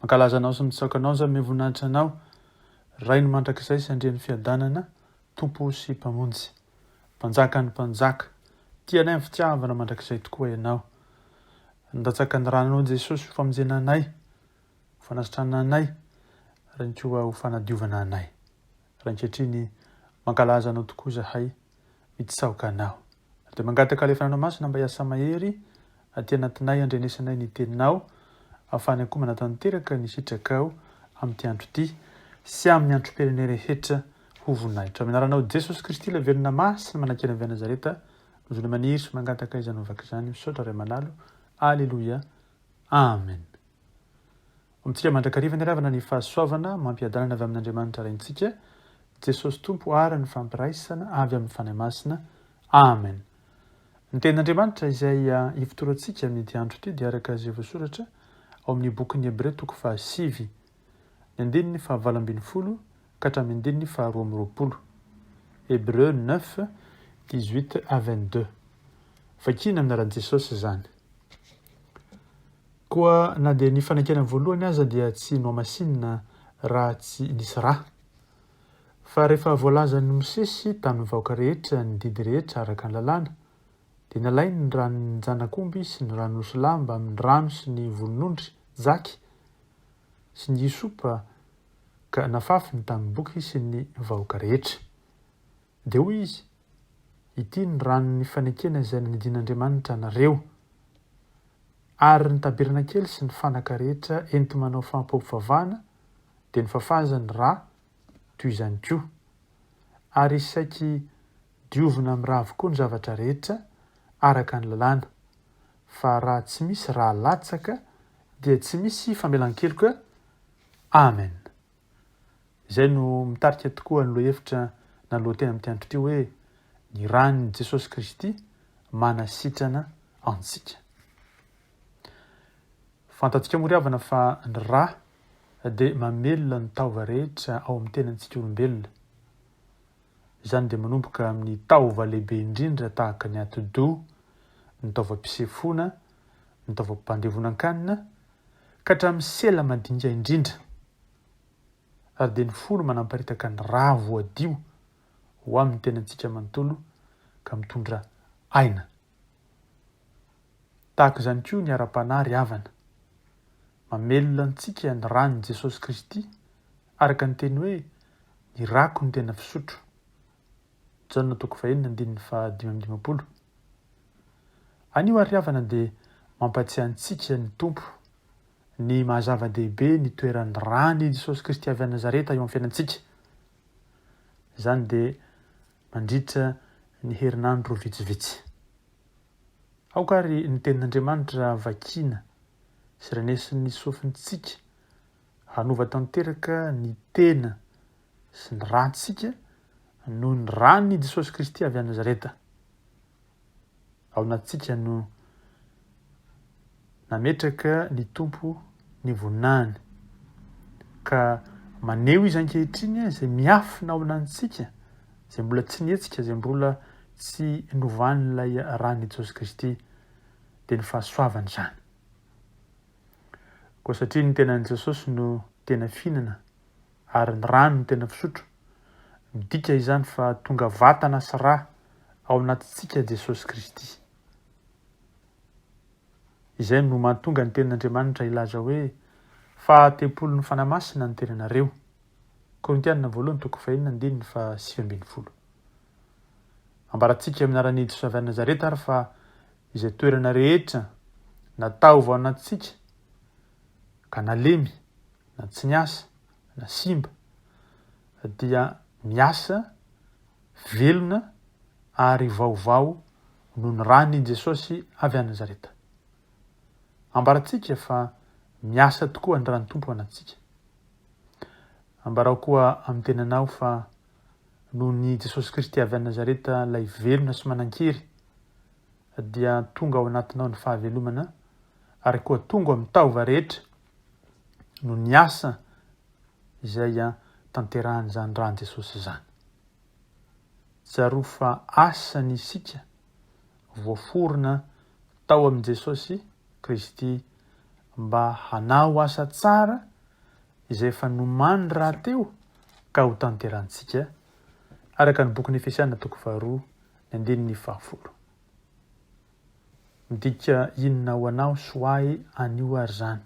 Mankalaza anao sy mitsaoka anao za miha voninahitra anao Rainy mandrakizay sy Andrian'ny fiadanana Tompo sy Mpamonjy Mpanjakan'ny mpanjaka Tia anay amin'ny fitiavana mandrakizay tokoa ianao Nandatsaka ny rananao Jesosy ho famonjena anay Ho fanasitrana anay Rainy koa ho fanadiovana anay Rainkehitriny mankalaza anao tokoa zahay mitsaoka anao. Ary dia mangataka alefana anao masina mba hiasa mahery aty anatinay handrenesanay ny teninao ahafahan'ny akoho manatanteraka ny sitrakao amin'ity andro ity sy amin'ny antromperene rehetra ho voninahitro amin'ny anaranao Jesosy Kristy ilay velona masina manakena avy any Nazareta no zona maniry sy mangataka izany ovaka izany misaotra Ray Manalo Aleloia Amen Amintsika mandrakariva ny ravana ny fahasoavana mampiadanana avy amin'Andriamanitra Raintsika, Jesosy Tompo ary ny fampiraisana avy amin'ny Fanahy Masina. Amen. Ny Tenin'Andriamanitra izay hifotorantsika amin'ity andro ity dia araka izay voasoratra ao amin'ny bokin'ny Hebreo toko fahasivy, ny andininy fahavalo ambin'ny folo ka hatramin'ny andininy faharoa amby roapolo. Hebreo neuf, dix huit à vingt deux. Vakina amin'ny anaran'i Jesosy izany. Koa na dia ny fanekena voalohany aza dia tsy nohamasinina raha tsy nisy ra. Fa rehefa voalazan'i Mosesy tamin'ny vahoaka rehetra ny didy rehetra araka ny lalàna, dia nalainy ny ran'ny janakomby sy ny ran'osy lahy mbamin'ny rano sy ny volon'ondry, jaky, sy ny hisopa ka nafafiny tamin'ny boky sy ny vahoaka rehetra. Dia hoy izy, Ity ny ranon'ny fanekena izay nanidin'Andriamanitra anareo. Ary ny tabernakely sy ny fanaka rehetra enti-manao fampiompivavahana dia nofafazany rà toy izany koa. Ary saiky diovina amin'ny rà avokoa ny zavatra rehetra, araka ny lalàna. Fa raha tsy misy rà latsaka, dia tsy misy famelan-keloka. Amen. Izay no mitarika tokoa ny lohahevitra na lohateny amin'ity andro ity hoe, Ny ran'i Jesosy Kristy manasitrana antsika. Fantantsika moa ry havana fa ny ra dia mamelona ny taova rehetra ao amin'ny tenantsika olombelona. Izany dia manomboka amin'ny taova lehibe indrindra tahaka ny atidoha, ny taovam-pisefoana, ny taovam-pandevonan-kanina ka hatramin'ny sela madinika indrindra, ary dia ny fony manamparitaka ny ra voadio ho amin'ny tenantsika manontolo ka mitondra aina. Tahaka izany koa ny ara-panahy ry havana. Mamelona antsika ny ran'i Jesosy Kristy araka ny teny hoe ny rako no tena fisotro. Jaona toko fahenina andininy faha dimy amby dimampolo. Anio ary ry havana dia mampatsiahy antsika ny Tompo ny maha zava-dehibe ny toeran'ny ràny i Jesosy Kristy avy any Nazareta eo amin'ny fiainantsika. Izany dia mandritra ny herinandro vitsivitsy. Aoka ary ny tenin'Andriamanitra vakina sy renesin'ny sofintsika Hanova tanteraka ny tena sy ny rantsika noho ny ran' i Jesosy Kristy avy any Nazareta ao anatintsika no nametraka ny Tompo ny voninahiny, ka maneho Izy ankehitriny izay miafina ao anatintsika, izay mbola tsy nihetsika, izay mbola tsy novan'ilay ran' i Jesosy Kristy, dia ny fahasoavany izany. Koa satria ny tenan'i Jesosy no tena fihinana ary ny rany no tena fisotro, midika izany fa tonga vatana sy ra ao anatintsika Jesosy Kristy. Izay no mahatonga ny tenin'Andriamanitra hilaza hoe, Fa tempolin'ny Fanahy Masina ny tenanareo. Korintiana voalohany toko fahenina andininy fahasivy ambin'ny folo. Ambarantsika amin'ny anaran'i Jesosy avy any Nazareta ary fa izay toerana rehetra na taovana antsika ka nalemy na tsy niasa na simba dia miasa velona ary vaovao noho ny ran' i Jesosy avy any Nazareta. Ambarantsika fa miasa tokoa ny ran' Tompo anantsika. Ambarao koa amin'ny tenanao fa noho ny Jesosy Kristy avy any Nazareta ilay velona sy manan-kery dia tonga ao anatinao ny fahavelomana ary koa tonga amin'ny taova rehetra noho ny asa izay tanterahan'izany ràn'i Jesosy izany. Tsarovy fa asany isika voaforona tao amin'i Jesosy Kristy mba hanao asa tsara izay efa nomany rahateo ka ho tanterahintsika, araka ny bokin'i Efesiana toko faharoa ny andininy fahafolo. Midika inona ho anao sy ho ahy anio ary izany?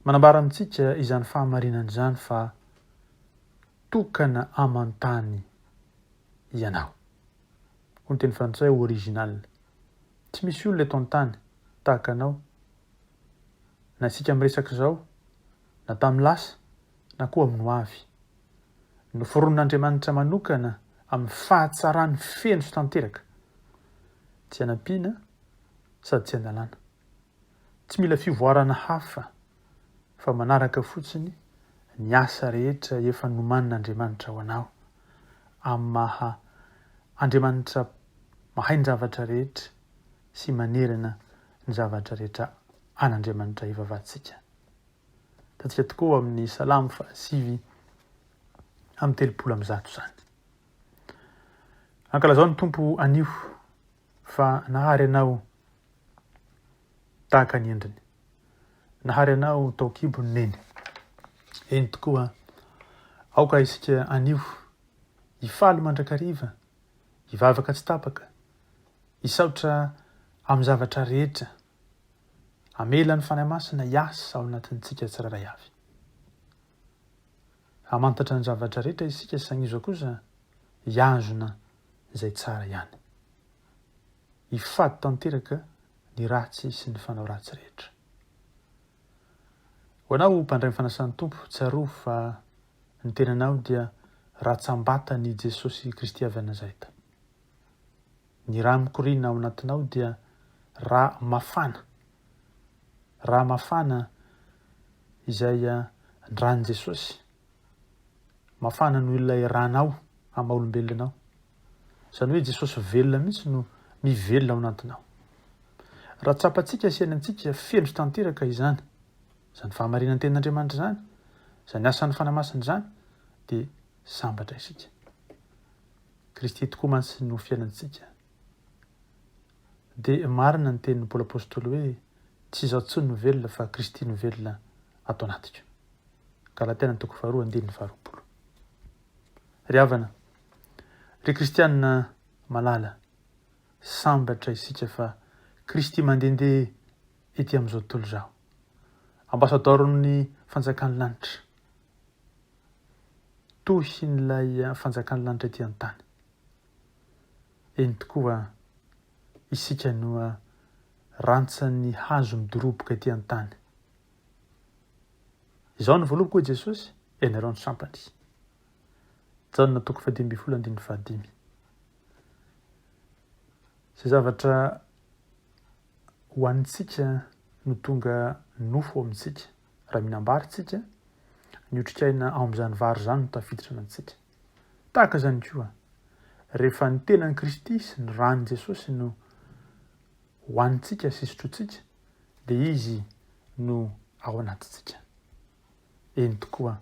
Manambara amintsika izany fahamarinana izany fa tokana aman-tany ianao. hoy ny teny frantsay original. Tsy misy olona eto an-tany tahaka anao. Na isika miresaka izao, na tamin'ny lasa, na koa amin'ny hoavy. Noforonin'Andriamanitra manokana amin'ny fahatsarany feno sy tanteraka. Tsy anampiana sady tsy analana. Tsy mila fivoarana hafa fa manaraka fotsiny ny asa rehetra efa nomanin'Andriamanitra ho anao, amin'ny maha Andriamanitra mahay ny zavatra rehetra sy manerana ny zavatra rehetra an'Andriamanitra ivavahantsika. Hitantsika tokoa ao amin'ny Salamo fahasivy amin'ny telopolo amin'ny zato izany. Ankalazao ny Tompo anio fa nahary anao tahaka ny endriny. Nahary anao ho tao kibony Neny. Eny tokoa, aoka isika anio hifaly mandrakariva, hivavaka tsy tapaka, hisaotra amin'ny zavatra rehetra. Amela ny Fanahy Masina hiasa ao anatintsika tsirairay avy. Hamantatra ny zavatra rehetra isika sagnizao kosa hiazona izay tsara ihany. Hifady tanteraka ny ratsy sy ny fanao ratsy rehetra. Ho anao mpandray ny fanasan'ny Tompo, tsarovy fa ny tenanao dia ratsam-batan' i Jesosy Kristy avy any Nazaeta. Ny ra mikoriana ao anatinao dia ra mafana, ra mafana izay ran'i Jesosy mafana noho ilay ranao amin'ny maha olombelona anao. Izany hoe Jesosy velona mihitsy no mivelona ao anatinao. Raha tsapantsika sy henantsika feno tanteraka izany, izany fahamarinan ten'Andriamanitra izany, izany asan'ny Fanahy Masina izany, dia sambatra isika. Kristy tokoa mantsy no fiainantsika. Dia marina ny tenin'i Paoly Apostoly hoe tsy izaho intsony no velona fa Kristy no velona ato anatiko. Galatiana toko faharoa andininy faharoapolo. Ry havana, ry kristiana malala, sambatra isika fa Kristy mandehandeha ety amin'izao tontolo izao. Ambasadaoron'ny fanjakan'ny lanitra. Tohin'ilay fanjakan'ny lanitra ety an-tany. Eny tokoa, isika no rantsan'ny hazo midoroboka ety an-tany. Izao no volovoko, hoy Jesosy, ianareo ny sampany. Jaona toko fahadimy ambin'ny folo andininy fahadimy. Izay zavatra ho antsika no tonga nofo ao amintsika. Raha minambary tsika, ny otrikaina ao amin'izany vary izany no tafiditra amintsika. Tahaka izany koa, rehefa ny tenan'i Kristy sy ny ran'i Jesosy no ho antsika sy sotrotsika, dia Izy no ao anatintsika. Eny tokoa,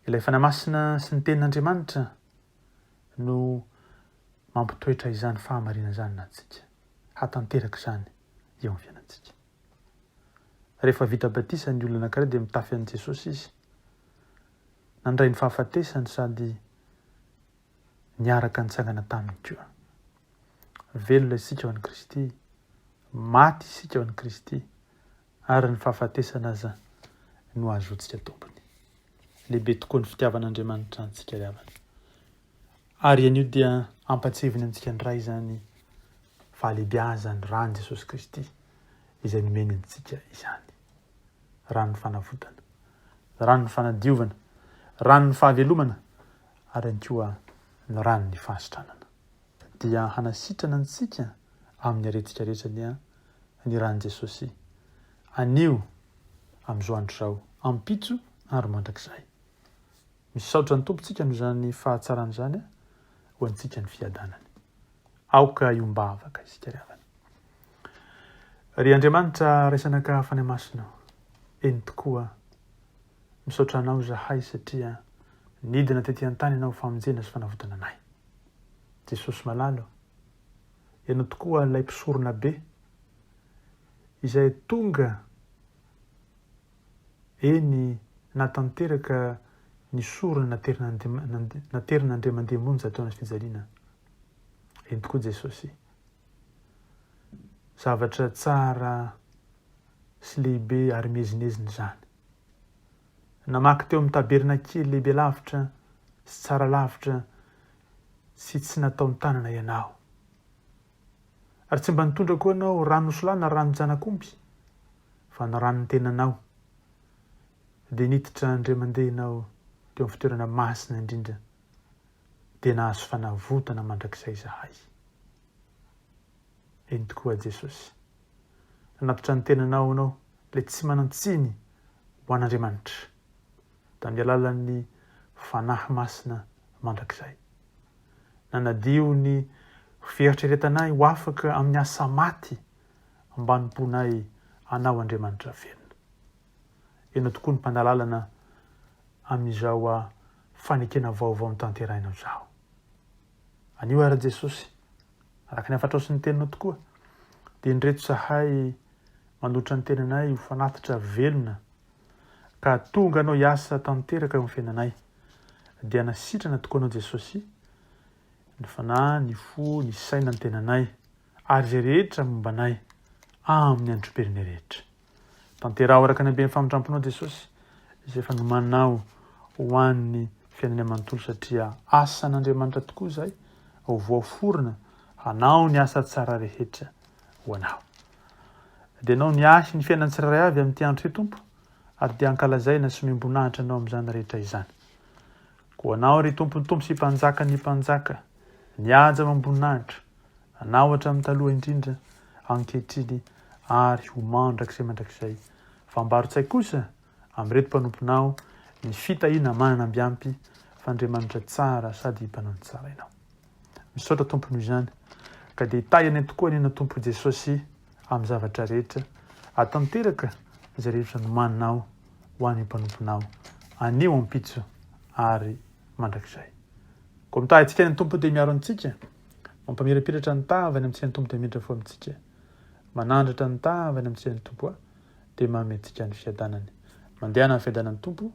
ilay Fanahy Masina sy ny Tenin'Andriamanitra no mampitoetra izany fahamarinana izany anatintsika, hatanteraka izany eo amin'ny fiainantsika. Rehefa vita batisa ny olona anankiray dia mitafy an'i Jesosy izy. Nandray ny fahafatesany sady niaraka nitsangana taminy koa. Velona isika ao an'i Kristy, maty isika ao an'i Kristy, ary ny fahafatesana aza no azotsika tompony. Lehibe tokoa ny fitiavan'Andriamanitra antsika ry havana. Ary ianio dia ampatseviny antsika indray izany fahalebiazany rany Jesosy Kristy izay nomeny antsika izany. Ran'ny fanavotana, ran'ny fanadiovana, ran'ny fahavelomana, ary ihany koa ny ran'ny fahasitranana, dia hanasitrana antsika amin'ny aretika rehetra dia ny ran'i Jesosy, anio, amin'izao andro izao, ampitso ary mandrakizay. Misaotra ny Tompontsika amin'izany fahatsarana izany ho antsika ny fiadanany. Aoka hiombavaka isika ry havana. Ry Andriamanitra, Ray Zanaka, Fanahy Masina, eny tokoa, Misaotra anao izahay satria nidina tety an-tany hanao famonjena sy fanavotana anay. Jesosy malala ô, Ianao tokoa ilay Mpisorona Be izay tonga eny nahatanteraka ny sorona naterin'Andriamandemonja teo anaty fijaliana. Eny tokoa Jesosy. Zavatra tsara sy lehibe ary miezinezina izany. Namaky teo amin'ny tabernakely lehibe lavitra sy tsara lavitra sy tsy nataon-tanana ianao. Ary tsy mba nitondra koa ianao ranosolà na ranon-janak'omby, fa ny ran'ny tenanao. Dia niditra indray mandeha ianao teo amin'ny fitoerana masina indrindra, dia nahazo fanavotana mandrakizay izahay. Eny tokoa, Jesosy. Nanatitra ny tenanao ianao, ilay tsy manan-tsiny ho an'Andriamanitra, tamin'ny alalan'ny Fanahy Masina mandrakizay. Nanadio ny fieritreretanay ho afaka amin'ny asa maty ambanim-ponay Anao Andriamanitra velona. Ianao tokoa ny Mpanalalana amin'izao fanekena vaovao notanterahinao izao. Anio ary Jesosy, araka ny hafatrao sy ny teninao tokoa, dia indreto zahay manolotra ny tenanay ho fanatitra velona, ka tonga anao hiasa tanteraka eo amin'ny fiainanay. Dia na sitrana tokoa anao Jesosy, ny fanahy, ny fo, ny saina, ny tenanay, ary izay rehetra momba anay amin'ny androm-perime rehetra. Tanteraho araka ny haben'ny famindram-ponao Jesosy izay efa nomaninao ho an'ny fiainanay manontolo satria asan'Andriamanitra tokoa izay ho voaforona hanao ny asa tsara rehetra ho anao. Dia anao ny ahy ny fiainan'ny tsirairay avy amin'ity andro ity Tompo ary dia ankalazaina sy omem-boninahitra anao amin'izany rehetra izany. Ho Anao, ry Tompon'ny Tompo sy Mpanjakan'ny mpanjaka, mihaja ao am-boninahitra, Anao hatramin'ny taloha indrindra, ankehitriny, ary ho mandrakizay mandrakizay. Fambaro-tsaiko kosa amin'ireto mpanomponao ny fitahiana manana ambiampy, f'Andriamanitra tsara sady mpanao ny tsara Ianao. Misaotra Tompo noho izany. Ka dia hitahy anay tokoa anie na Tompo Jesosy amin'ny zavatra rehetra. Aho tanteraka izay rehetra nomaninao ho an'ny mpanomponao anio ampitso ary mandrakizay. Koa mitahy antsika any Tompo dia miaro antsika. Mampamirapiratra ny tava any amintsika ny Tompo dia miditra fo amintsika. Manandratra ny tava any amintsika ny Tompo a. dia mametika ny fiadanany. Mandehana amin'ny fiadanan'ny Tompo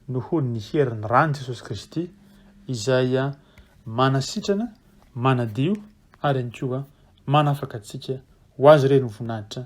noho ny herin'ny ran'i Jesosy Kristy izay manasitrana, manadio ary ihany koa manafaka antsika ho azy ireny ho voninahitra.